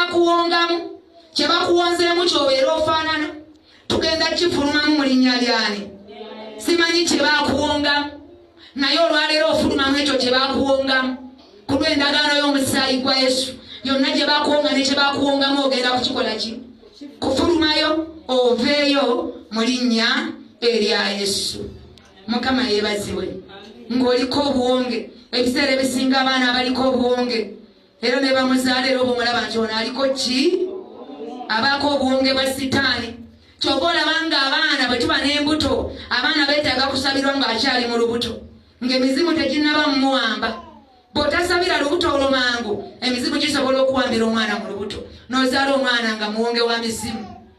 bakuwongamu kye bakuwonzeemu kyobeera ofaanana tugenda kifulumamu mu linnya lyani simanyi kye bakuwongamu naye olwaleero ofulumamu ekyo kye bakuwongamu ku lw'endagaano y'omusaayi gwa yesu yonna gye bakuwonga ne kye bakuwongamu ogenda kukikola ki kufulumayo oveeyo mu linnya erya yesu mukama yeebazibwe ng'oliko obuwonge ebiseera ebisinga abaana abaliko obuwonge era ne bamuzaala era oba omulaba nti ono aliko ki abaako obuwonge bwa sitaani kyova olaba nga abaana bwe tuba n'embuto abaana beetaaga kusabirwa ng'akyali mu lubuto ng'emizimu teginnaba mumuwamba bw'otasabira lubuto olwo mangu emizimu gisobola okuwambira omwana mu lubuto n'ozaala omwana nga muwonge wa mizimu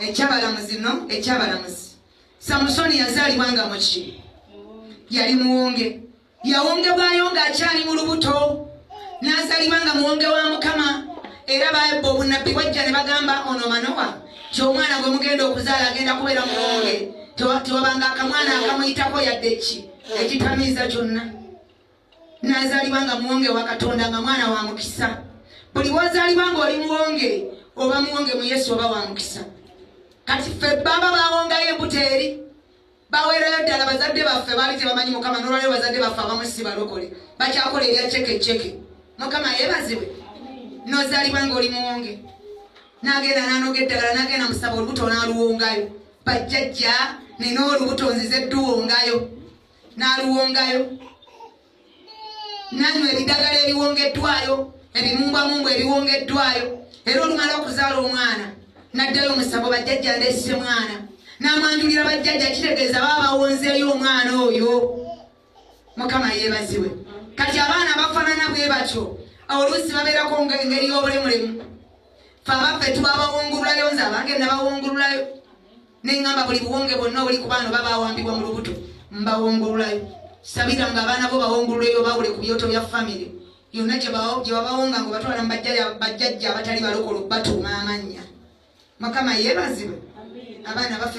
ekyabalamuzi no ekyabalamuzi samusoni yazaalibwa nga muki yali muwonge yawongebwayo ng'akyali mu lubuto n'azaalibwa nga muwonge wa mukama era baebba obunabbi bwajja ne bagamba ono manowa nti omwana gwe mugenda okuzaala agenda kubeera muwonge tewabanga akamwana akamuyitako yadde ki ekitamiiza kyonna nazalibwa nga muwonge wa katonda nga mwana wa mukisa buli wazalibwa nga oli muwonge oba muwonge mu yesu oba wa mukisa kati ffe baba bawongayo embuto eri baweerayo ddala bazadde baffe baali tebamanyi mukama nolwaleo bazadde baffe abamu si balokole bakyakola ebya ceke ceke mukama yebaziwe nozalibwa nga oli muwonge nagenda nanoga eddagala nagenda musaba olubuto naluwongayo bajjajja nina olubuto nzize dduwongayo n'aluwongayo nanywa ebidagala ebiwongeddwayo ebimumbwamungu ebiwongeddwayo era olumala okuzaala omwana naddayo omusango bajjajja ndeese mwana n'amwanjulira bajjajja kitegeeza baba bawonzeeyo omwana oyo mukama yeebaziwe kati abaana bafaanana bwe batyo oluusi babeerako ngeri y'obulemulemu fe abaffe tubabawungululayo nze abange nabawungululayo ne ŋŋamba buli buwonge bwonna obuli ku baano babaawambibwa mu lubuto mbawongululayo sabira nga abaana bo bawongululeyo bawule ku byoto bya famire yonna gye babawonga nga obatwala mu bajjajja abatali balokolo batuuma amannya mukama yeebazibwe abaana baffe